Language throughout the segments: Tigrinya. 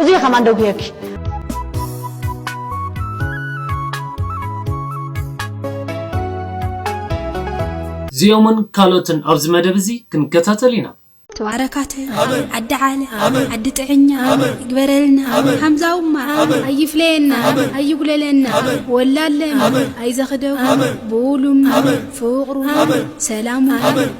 እዙይ ከማን ደው ሂበኪ። እዚኦምን ካልኦትን ኣብዚ መደብ እዚ ክንከታተል ኢና። ተባረካተ ዓዲ ዓለ ዓዲ ጥዕኛ ይግበረልና ሓምዛውማ ኣይፍለየና ኣይጉለለና ወላለም ኣይዘኽደው ብውሉም ፍቕሩ ሰላሙ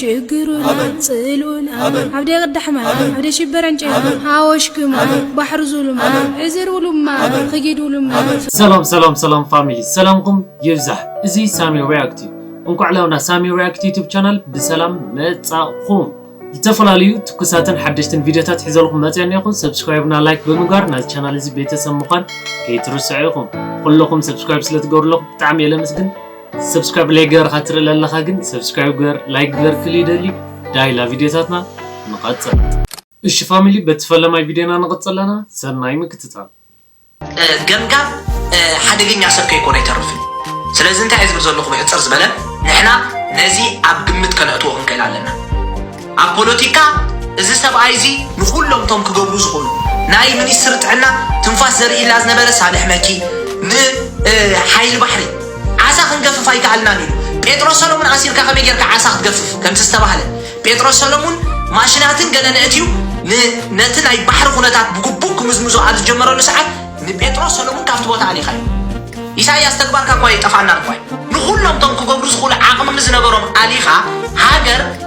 ሽግሩናን ጽልኡናን ኣብ ደቕዳሕማን ኣብ ደሽበረን ጨናን ሃወሽክማን ባሕሪ ዙሉማን ዕዝር ውሉማን ኽጊድ ውሉማን ሰላም ሰላም ሰላም ፋሚሊ ሰላምኩም ይብዛሕ እዚ ሳሚ ሪያክት እዩ እንኳዕ ላውና ሳሚ ሪያክት ዩቱብ ቻናል ብሰላም መጻኹም ዝተፈላለዩ ትኩሳትን ሓደሽትን ቪዲዮታት ሒዘልኩም መፅያ እኒኹ ሰብስክራይብና ላይክ ብምግባር ናዚ ቻናል እዚ ቤተሰብ ምዃን ከይትርስዑ ኢኹም ኩለኹም ሰብስክራይብ ስለትገብርለኹ ብጣዕሚ የለምስግን ሰብስክራይብ ላይ ገርካ ትርኢ ለለኻ ግን ሰብስክራይብ ገር ላይክ ገር ክል ይደሊ ዳይላ ቪድዮታትና ንቐጽል እሺ ፋሚሊ በቲ ፈለማይ ቪድዮና ንቐጽል ኣለና ሰናይ ምክትታል ገምጋም ሓደገኛ ሰብ ከይኮነ ይተርፍን ስለዚ እንታይ ዝብል ዘለኹ ብሕፅር ዝበለ ንሕና ነዚ ኣብ ግምት ከነእትዎ ክንክእል ኣለና ኣብ ፖለቲካ እዚ ሰብኣይ እዚ ንኹሎም እቶም ክገብሩ ዝኾኑ ናይ ሚኒስትሪ ጥዕና ትንፋስ ዘርእይላ ዝነበረ ሳልሕ መኪ ን ሓይሊ ባሕሪ ዓሳ ክንገፍፍ ኣይከኣልናን ኢሉ ጴጥሮስ ሰሎሙን ኣሲርካ ከመይ ጌርካ ዓሳ ክትገፍፍ ከምቲ ዝተባህለ ጴጥሮስ ሰሎሙን ማሽናትን ገለ ነእትዩ ን ነቲ ናይ ባሕሪ ኩነታት ብግቡእ ክምዝምዞ ኣብ ዝጀመረሉ ሰዓት ንጴጥሮስ ሰሎሙን ካብቲ ቦታ ኣሊኻዮ ኢሳያስ ተግባርካ እኳ ኣይጠፍኣናን እኳ ንኹሎም እቶም ክገብሩ ዝኽእሉ ዓቕሚ ዝነበሮም ኣሊኻ ሃገር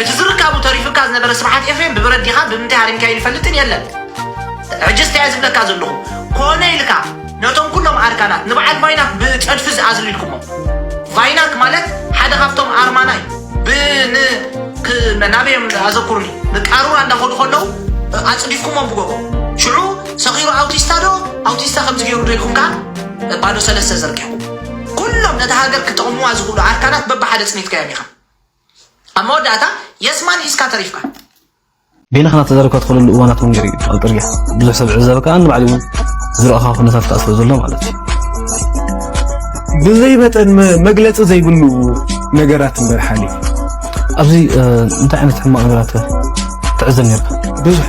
እቲ ዝርካቡ ተሪፉካ ዝነበረ ስብሓት ኤፍሬም ብብረት ዲኻ ብምንታይ ሃሪምካዮ ይፈልጥን የለን ሕጂ ስታይ ዝብለካ ዘለኹ ኮነ ኢልካ ነቶም ኩሎም ኣርካናት ንበዓል ቫይናክ ብፀድፊ ዝኣዝሉ ኢልኩሞ ቫይናክ ማለት ሓደ ካብቶም ኣርማና እዩ ብን ናበዮም ኣዘኩርኒ ንቃሩራ እንዳኸዱ ከለዉ ኣፅዲፍኩሞም ብጎቦ ሽዑ ሰኺሩ ኣውቲስታ ዶ ኣውቲስታ ከምዚ ገይሩ ዶ ኢልኩም ከዓ ባዶ ሰለስተ ዘርጊኹም ኩሎም ነቲ ሃገር ክጠቕሙዋ ዝኽእሉ ኣርካናት በብሓደ ፅኒትካዮም ኢኻ ኣብ መወዳእታ የስማን ሒዝካ ተሪፍካ። ገለ ክና ተዘረብካ ትኽእለሉ እዋናት እውን ገይሩ እዩ ኣብ ጥርያ ብዙሕ ሰብ ዝዕዘበ ከዓ ንባዕሊ እውን ዝረእኻ ኩነታት ከዓ ስለ ዘሎ ማለት እዩ ብዘይ መጠን መግለፂ ዘይብሉ ነገራት እምበር ሓሊ ኣብዚ እንታይ ዓይነት ሕማቕ ነገራት ትዕዘብ ነርካ ብዙሕ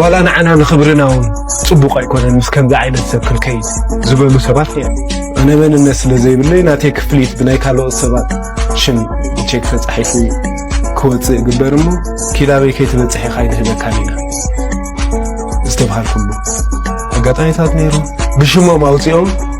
ዋላ ንዓና ንኽብርና እውን ፅቡቕ ኣይኮነን ምስ ከምዚ ዓይነት ሰብ ክንከይድ ዝበሉ ሰባት እዮም ኣነ መንነት ስለ ዘይብለይ ናተይ ክፍሊት ብናይ ካልኦት ሰባት ሽም ቼክ ተፃሒፉ ክወፅእ ይግበር እሞ ኪላበይ ከይትበፅሕ ኢኻ ይንህበካን ኢና ዝተብሃልኩሉ ኣጋጣሚታት ነይሩ ብሽሞም ኣውፂኦም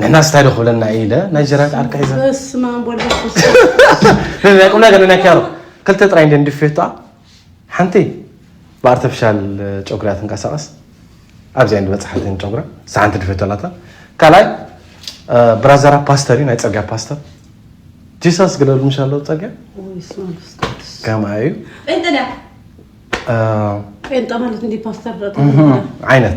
ንሕና ስታይ ዶ ክብለና እዩ ኢለ ናይ ጀራት ዓርካ ሒዘ በስማን ናይ ቁም ነገር ናይ ኪያሮ ክልተ ጥራይ እንደ ንድፌቷ ሓንቲ ብኣርተፊሻል ጨጉሪያ ትንቀሳቐስ ኣብዚኣ እንዲ በፅሓትን ጨጉራ ሰሓንቲ ድፌቶ ኣላታ ካልኣይ ብራዘራ ፓስተር እዩ ናይ ፀርጊያ ፓስተር ጂሳስ ግለሉ ምሻ ኣለዉ ፀርጊያ ከማ እዩ ጴንጠ ማለት እንዲ ፓስተር ዓይነት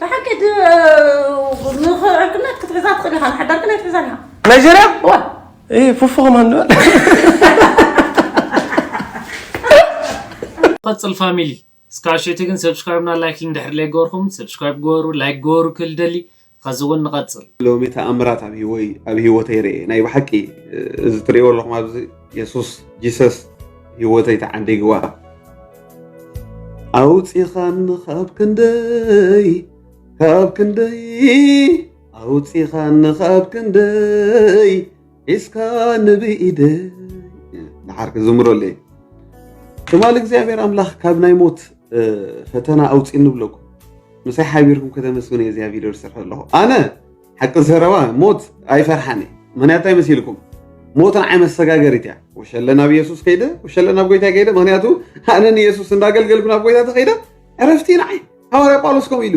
ብሓቂ ንዕርክነት ክትሕዛ ትኽእል ኢኻ ንሓዳር ግን ኣይትሕዛን ኢኻ ናይጀርያ ፉፉ ከማን ንበል ቀፅል ፋሚሊ እስካብ ሸቲ ግን ሰብስክራይብና ላይክ ድሕር ለይገበርኩም ሰብስክራይብ ገበሩ ላይክ ገበሩ ክል ደሊ ኸዚ ውን ንቐጽል። ሎሚ ተኣምራት ኣብ ሂወይ ኣብ ሂወተይ ርኤ ናይ ብሓቂ እዚ ትርእይዎ ኣለኹም ኣብዚ የሱስ ጂሰስ ሂወተይ ተዓዲግዋ ኣውጺኻኒ ካብ ክንደይ ካብ ክንደይ ኣውጺኻኒ ካብ ክንደይ ሒዝካ ንብኢደይ ንዓር ክዝምረሉ እየ ትማሊ እግዚኣብሔር ኣምላኽ ካብ ናይ ሞት ፈተና ኣውፅእ እንብለኩም ምሳይ ሓቢርኩም ከተመስግኑ እየ እዚያ ቪድዮ ዝሰርሐ ኣለኹ ኣነ ሓቂ ዘረባ ሞት ኣይፈርሓን እየ ምክንያቱ እንታይ መሲልኩም ሞት ንዓይ መሰጋገሪት እያ ወሸለ ናብ የሱስ ከይደ ወሸለ ናብ ጎይታ ከይደ ምክንያቱ ኣነ ንየሱስ እንዳገልገልኩ ናብ ጎይታ ተኸይደ ዕረፍቲ ንዓይ ሃዋርያ ጳውሎስ ከምኡ ኢሉ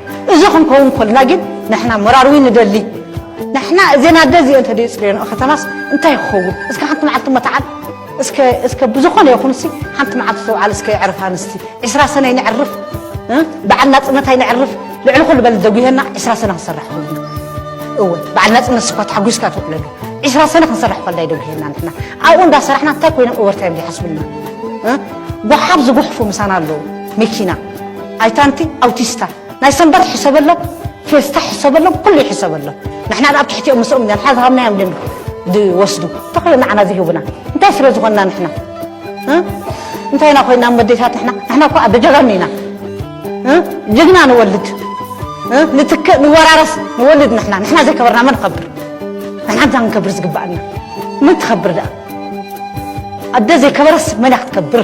እዚ ክንከውን ኮልና ግን ንሕና መራርዊ ንደሊ ንሕና እዘን ኣደ እዚኦ እንተ የፅርዮንኦ ከተማስ እንታይ ክኸውን እስከ ሓንቲ መዓልቲ መታዓል እስከ ብዝኾነ ይኹን ሲ ሓንቲ መዓልቲ ተውዓል እስከ የዕርፍ ኣንስቲ ዕስራ ሰነ ይነዕርፍ በዓል ናፅነት ኣይነዕርፍ ልዕሊ ኩሉ በል ዘጉሄና ዕስራ ሰነ ክንሰርሕ ኩሉ እወ በዓል ናፅነት ስኳ ተሓጒስካ ትውዕለሉ ዕስራ ሰነ ክንሰርሕ ኮላ ይደጉሄና ንሕና ኣብኡ እንዳሰራሕና እንታይ ኮይኖም ኦቨርታይም ዘይሓስብልና ጓሓፍ ዝጉሕፉ ምሳና ኣለዉ መኪና ኣይታንቲ ኣውቲስታ ናይ ሰንበት ሕሰበሎም ፌስታ ሕሰበሎም ኩሉ ይሕሰበሎም ንሕና ኣብ ትሕቲኦም ምስኦም ኢና ንሓ ዝሃብናዮም ድም ዝወስዱ ተኸዮ ንዓና ዝህቡና እንታይ ስለ ዝኾንና ንሕና እንታይ ኢና ኮይና መዴታት ንሕና ንሕና እኮ ኣብ ጀጋኑ ኢና ጀግና ንወልድ ንትክእ ንወራረስ ንወልድ ንሕና ንሕና ዘይከበርና መን ኸብር ንሕና እንታ ክንከብር ዝግባኣና መን ትኸብር ደኣ ኣደ ዘይከበረስ መን ክትከብር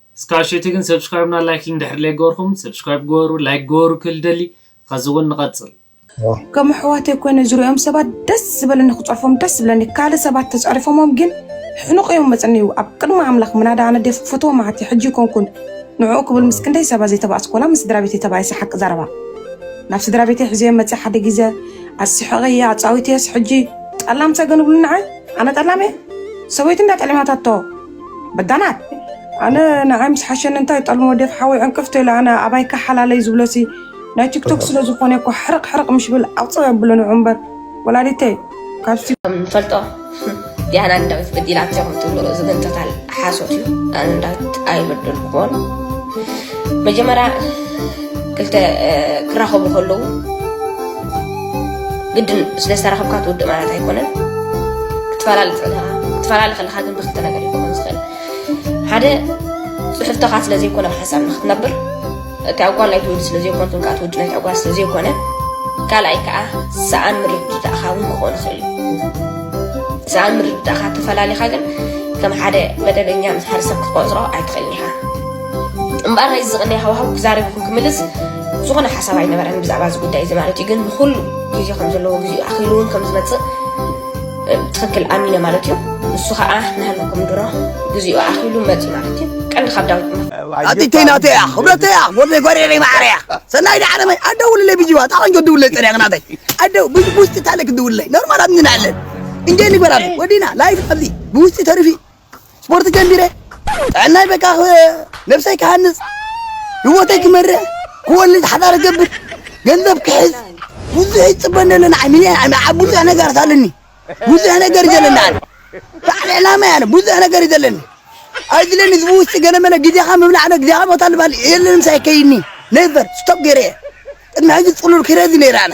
እስካብ ሸቲ ግን subscribe እና like እንድሕር ለይገበርኩም subscribe ግበሩ like ግበሩ ክብል ደሊ ኸዚ ውን ንቀፅል። ከም ኣሕዋተይ ኮይነ ዝሪኦም ሰባት ደስ ዝበለኒ ክፀርፎም ደስ ዝብለኒ ካልእ ሰባት ተፀሪፎሞም ግን ሕኑቅ እዮም መፅንዩ ኣብ ቅድሚ ኣምላክ ምናዳ ኣነ ዴፍ ክፈትዎ ማዓት እዩ ሕጂ ኣይኮንኩን ንዕኡ ክብል ምስ ክንደይ ሰባ ዘይተባኣስኩ ወላ ምስ ስድራቤተይ ተባኢሰ ሓቂ ዘረባ ናብ ስድራቤተይ ሕዘዮም መፅየ ሓደ ግዜ ኣስሕቀየ ኣፃዊተየስ ሕጂ ጠላም ሰገን ይብሉኒ ንዓይ ኣነ ጠላም እየ ሰበይቱ እንዳ ጠሊማታቶ በዳናት ኣነ ንዓይ ምስ ሓሸኒ እንታይ ጠልሞ ደፍ ሓወይ ዕንቅፍ ተይለ ኣነ ኣባይካ ሓላለይ ዝብሎሲ ናይ ቲክቶክ ስለ ዝኾነ እኮ ሕርቕ ሕርቕ ምሽ ብል ኣውፅእ ኣብሎ ንዑ እምበር ወላዲተይ ካብሲ ፈልጦ ዲያና ንዳዊት በዲላቶ ከም ትብሎ እዚ ግን ቶታል ሓሶት እዩ ኣነ ንዳዊት ኣይበደልኩዎን መጀመርያ ክልተ ክራኸቡ ከለዉ ግድን ስለ ዝተራኸብካ ትውድእ ማለት ኣይኮነን ክትፈላለ ትኽእል ክትፈላለ ከለካ ግን ብክልተ ነገር እዩ ክኸውን ዝኽእል ሓደ ፅሑፍተኻ ስለ ዘይኮነ ብሓሳብ ንክትነብር እቲ ኣጓል ናይ ትውልድ ስለ ዘይኮነ ትንካ ትውድ ናይ ኣጓል ስለ ዘይኮነ ካልኣይ ከዓ ሰኣን ምርድዳእኻ እውን ክኾን ይኽእል እዩ ሰኣን ምርድዳእኻ ተፈላለኻ ግን ከም ሓደ መደበኛ ምስ ሓደ ሰብ ክትቆፅሮ ኣይትኽእልን ኢኻ እምበኣር ናይዚ ዝቕንያ ሃዋህው ክዛረብኩም ክምልስ ዝኾነ ሓሳብ ኣይነበረን ብዛዕባ እዚ ጉዳይ እዚ ማለት እዩ ግን ንኩሉ ግዜ ከም ዘለዎ ግዜኡ ኣኺሉ እውን ከም ዝመፅእ ትኽክል ኣሚነ ማለት እዩ ንሱ ከዓ ንሃለኩም ድሮ ግዜኡ ኣኺሉ መፅ ማለት እዩ ቀንዲ ካብ ዳዊት ኣቲተይ ናተይ እያ ክብረተይ እያ ወደይ ጎሪረይ ማዕረ እያ ሰናይ ዳዕረመይ ኣደውልለይ ብጅዋ ጣቆንጆ ድውለይ ፀሪያ ናተይ ኣደ ብውሽጢ ታለክ ድውለይ ኖርማል ኣብኒ ንዕለን እንጀ ንግበራለ ወዲና ላይፍ ኣብዚ ብውሽጢ ተርፊ ስፖርት ጀሚረ ጥዕናይ በቃ ነብሰይ ክሃንፅ ህወተይ ክመርሕ ክወልድ ሓዳር ገብር ገንዘብ ክሕዝ ብዙሕ ይፅበ ነለ ንዓይ ሚኒያ ኣብ ብዙሕ ነገር ሳለኒ ብዙሕ ነገር ዘለኒ ኣነ በዓል ዕላማ ያነ ብዙሕ ነገር እዩ ዘለኒ ኣይድለኒ ህዝቢ ውሽጢ ገለመለ ግዜኻ ምብላዕ ዶ ግዜኻ ቦታ ልባል የለን ምሳይ ከይኒ ነበር ስቶፕ ገይረ እየ ቅድሚ ሕዚ ፅሉል ክረዚ ነይረ ኣነ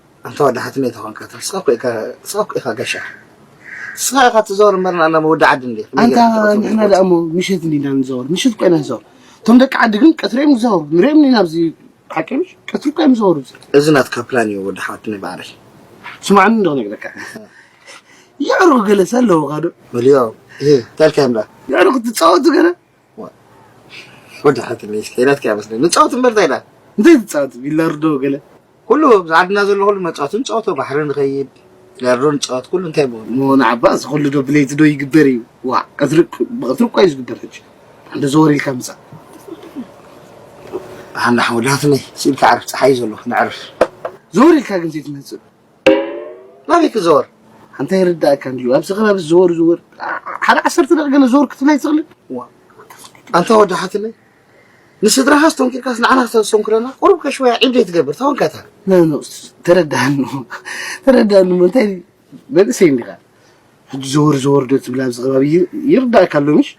ኣንታ ወዲ ሓትነይ ተኾንካ ትሕስካ እኮ ኢካ ንስካ እኮ ኢካ ገሻ ንስካ ኢካ ትዘወር እምበር ንኣና ወዲ ዓዲ እንድየ ከመይ ኣንታ ጌርካ ትቅትሎም ንሕና ትፈልጥ? ደኣ እሞ ምሸት እንዲና ንዘወር ምሸት እኮ ኢና ንዘወር እቶም ደቂ ዓዲ ግን ቀትሪ እዮም ዝዘወሩ ንሪኦም እንዲና ኣብዚ ሓቂ ምሽ ቀትሪ እኮ እዮም ዝዘወሩ እዚ እዚ ናትካ ፕላን እዩ ወዲ ሓትነይ ባዕለይ ስማዕኒ እንዶ ክነግረካ የዕሩኽ ገለሰ ኣለውኻ ዶ በልዮ እህ እንታይ ኢልካዮም ደኣ የዕሩኽ ትጻወቱ ገለ ወዲ ሓትለይ እስከ ናትካ ይመስለኒ ንፃወት እምበር እንታይ ኢላ እንታይ ትፃወት ቢላርዶ ገለ ኩሉ ኣብዚ ዓድና ዘሎ ኩሉ መፃወቲ ንፃወቶ ባሕሪ ንኸይድ ቢላርዶ ንፃወት ኩሉ እንታይ ብሆን እሞ ንዓባ እዚ ኩሉ ዶ ብለይቲ ዶ ይግበር እዩ ዋ ቀትሪ ብቐትሪ እኳ እዩ ዝግበር ሕጂ እንዶ ዘወር ኢልካ ምፃእ ብሓንዳ ሓወዳትለይ ስኢልካ ዕርፍ ፀሓይ እዩ ዘሎ ንዕርፍ ዘወር ኢልካ ግን ዘይትመፅእ ናበይ ክዘወር ኣንታ ይርዳእካ እንድዩ ኣብዚ ከባቢ ዝወር ዝወር ሓደ ዓሰርተ ደቂ ገለ ዘወር ክትብል ኣይትኽእልን ዋ ኣንታ ወዳሓትለይ ንስድራኻ ኣስተንኪርካስ ንዓና ክተስተንክረና ቁሩብ ከሽወያ ዒብ ዘይትገብር ተወንካታ ተረዳሃኒ ተረዳሃኒ እሞ እንታይ መንእሰይ እንዲኻ ሕጂ ዘወር ዘወር ዶ ትብል ኣብዚ ከባቢ ይርዳእካ ኣሎ ምሽ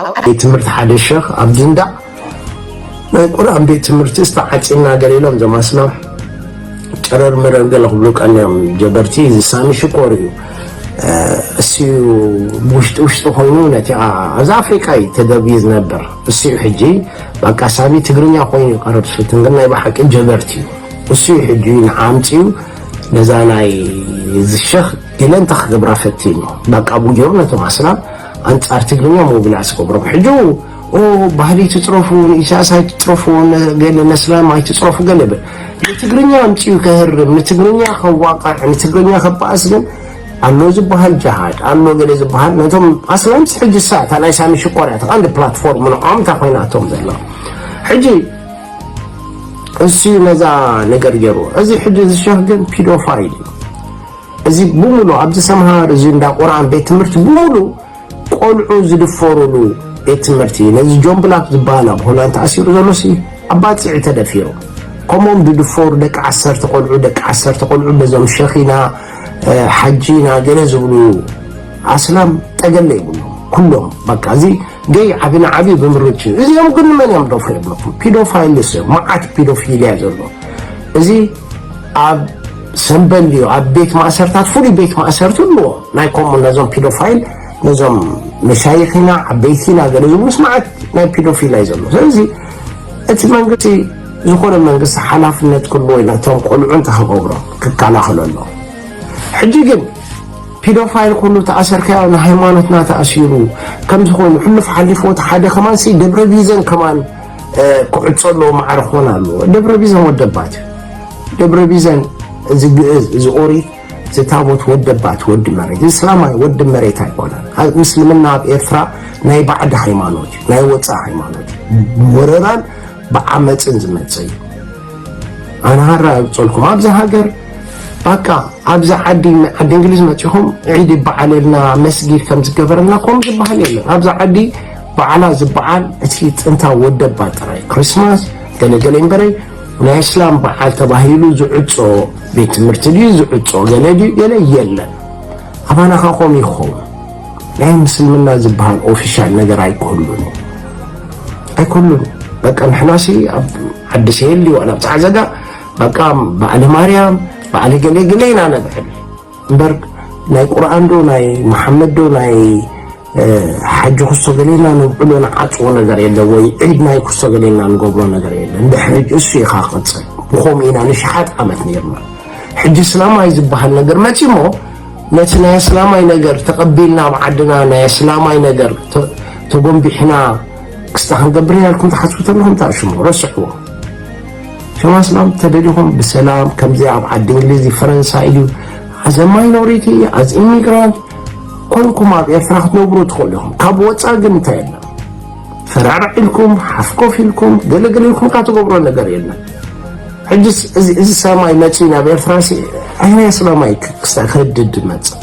ኣብ ቤት ትምህርቲ ሓደ ሸኽ ኣብዚ እንዳ ናይ ቁርኣን ቤት ትምህርቲስ ተዓጺና ገለ ኢሎም እዞም ኣስላም ጨረር መረር ገለ ክብሉ ቀንዮም ጀበርቲ እዚ ሳሚ ሽኮር እዩ እሱዩ ብውሽጢ ውሽጢ ኮይኑ ነቲ ኣብዚ ኣፍሪቃ እዩ ተደብዩ ዝነበር እሱዩ ሕጂ በቃ ሳሚ ትግርኛ ኮይኑ ይቀርብ ስልትን ግን ናይ ብሓቂ ጀበርቲ እዩ እሱዩ ሕጂ ንዓምፅዩ ነዛ ናይ ዝሸኽ ኢለ እንታይ ክገብራ ፈቲኑ በቃ ብኡ ገይሩ ነቶም ኣስላም ኣንጻር ትግርኛ ሞቢላስ ክገብሮም ሕጂ ኦ ባህሊ ትጽረፉ ንኢሳያስ ኣይትጽረፉ ገለ ነስላም ኣይትጽረፉ ገለ ብል ንትግርኛ ኣምጽኡ ከህርም ንትግርኛ ከዋቅዕ ንትግርኛ ከባእስ ግን ኣሎ ዝበሃል ጃሃድ ኣሎ ገለ ዝበሃል ነቶም ኣስላምስ ሕጂ ሳታ ናይ ሳሚ ሽኮር እያ ተቐንዲ ፕላትፎርም ንዖም እንታ ኮይናቶም ዘላ ሕጂ እሱ ነዛ ነገር ገይሩ እዚ ሕጂ ዝሸህ ግን ፒዶፋይል እዩ እዚ ብሙሉ ኣብዚ ሰምሃር እዚ እንዳ ቁርኣን ቤት ትምህርቲ ብሙሉ ቆልዑ ዝድፈሩሉ ቤት ትምህርቲ እዩ ነዚ ጆን ብላክ ዝበሃል ኣብ ሆላንድ ተኣሲሩ ዘሎሲ ኣብ ባፅዕ እዩ ተደፊሩ ከምኦም ዝድፈሩ ደቂ ዓሰርተ ቆልዑ ደቂ ዓሰርተ ቆልዑ በዞም ሸኺና ሓጂና ገለ ዝብሉ ኣስላም ጠገለ ይብሉ ኩሎም በቃ እዚ ገይ ዓቢ ንዓቢ ብምርጭ እዚኦም ግን ንመን እዮም ደፍሩ የብለኩም ፒዶፋይልስ እዮም መዓት ፒዶፊልያ ዘሎ እዚ ኣብ ሰምበል እዩ ኣብ ቤት ማእሰርታት ፍሉይ ቤት ማእሰርቲ ኣለዎ ናይ ከምኡ ነዞም ፒዶፋይል ነዞም መሻይኺና ዓበይቲና ገለ ዝብሉ ስምዓት ናይ ፒዶፊላ እዩ ዘሎ ስለዚ እቲ መንግስቲ ዝኾነ መንግስቲ ሓላፍነት ክህልዎ ኢና እቶም ቆልዑ እንተኸገብሮም ክከላኸሎ ኣሎ ሕጂ ግን ፒዶፋይል ኩሉ ተኣሰርካዮ ንሃይማኖትና ተኣሲሩ ከምዚ ኮይኑ ሕሉፍ ሓሊፍዎ እቲ ሓደ ከማንሲ ደብረ ቢዘን ከማን ክዕፆ ኣለዎ ማዕረ ክኾን ኣለዎ ደብረ ቢዘን ወደባት ደብረ ቢዘን እዚ ግእዝ እዚ ኦሪት እዚ ታቦት ወደባት ወዲ መሬት እስላማይ ወዲ መሬት ኣይኮነን ምስልምና ኣብ ኤርትራ ናይ ባዕዲ ሃይማኖት እዩ ናይ ወፃእ ሃይማኖት እዩ ወረራን ብዓመፅን ዝመፀ እዩ ኣነ ሃራ ይብፀልኩም ኣብዚ ሃገር ባካ ኣብዚ ዓዲ ዓዲ እንግሊዝ መፂኹም ዒድ ይበዓለልና መስጊድ ከም ዝገበረልና ከምኡ ዝበሃል የለን ኣብዚ ዓዲ ባዓላ ዝባዓል እቲ ጥንታዊ ወደባ ጥራይ ክሪስማስ ገለ ገለ እምበረይ ናይ እስላም ባዓል ተባሂሉ ዝዕጾ ቤት ትምህርቲ ድዩ ዝዕጾ ገለ ድዩ ገለ የለን ኣባና ከ ከምኡ ይኸውን ናይ ምስልምና ዝበሃል ኦፊሻል ነገር ኣይኮሉን ኣይኮሉን በቃ ንሕናሲ ኣብ ዓዲ ሰየሊ ዋላ ኣብ ጻዕዘጋ በቃ በዓለ ማርያም በዓለ ገለ ገለ ኢና ነብዕል እምበር ናይ ቁርኣን ዶ ናይ መሓመድ ዶ ናይ ሓጂ ኩሶ ገሌና ነብዕሎ ንዓፅዎ ነገር የለ ወይ ዒድ ናይ ኩሶ ገሌና ንገብሮ ነገር የለ እንድሕሪ እሱ ኢኻ ክቕፅል ብከምኡ ኢና ንሽሓት ዓመት ነርና ሕጂ እስላማይ ዝበሃል ነገር መፅሞ ነቲ ናይ እስላማይ ነገር ተቐቢልና ኣብ ዓድና ናይ እስላማይ ነገር ተጎንቢሕና ክስታ ክንገብር ኢና ኢልኩም ትሓስቡ ተለኹም ታሽሙ ረስዕዎ ሕዋስናም ተደሊኹም ብሰላም ከምዚ ኣብ ዓዲ እንግሊዝ ፈረንሳይ ኢዩ as a minority as immigrant ኮንኩም ኣብ ኤርትራ ክትነብሩ ትኽእሉ ኢኹም ካብ ወጻኢ ግን እንታይ የለን ፈራራሕ ኢልኩም ሓፍ ኮፍ ኢልኩም ገለገለ ኢልኩም ካ ትገብሮ ነገር የለን ሕጅስ እዚ ሰማይ መጺኡ ናብ ኤርትራ ሲ ኣየናይ ሰላማይ ክስታ ክህድድ መጽእ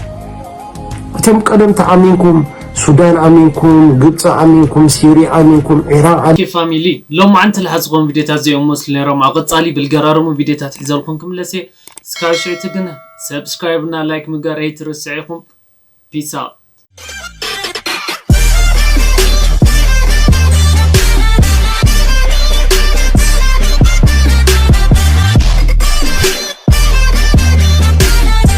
እቶም ቀደም ተኣሚንኩም ሱዳን ኣሚንኩም ግብጺ ኣሚንኩም ሲርያ ኣሚንኩም ዒራቅ ኣኪ ፋሚሊ ሎምዓንቲ ልሓ ዝኮን ቪድዮታት ዘይ ኦሞስሉ ነሮም ኣብ ቀጻሊ ብልገራርሙ ቪድዮታት ሒዘልኩም ክምለስ እየ እስካብ ሽዕቲ ግና ሰብስክራይብ እና ላይክ ምግባር ኣይትረስዕ ኢኩም ፒስ ኣውት።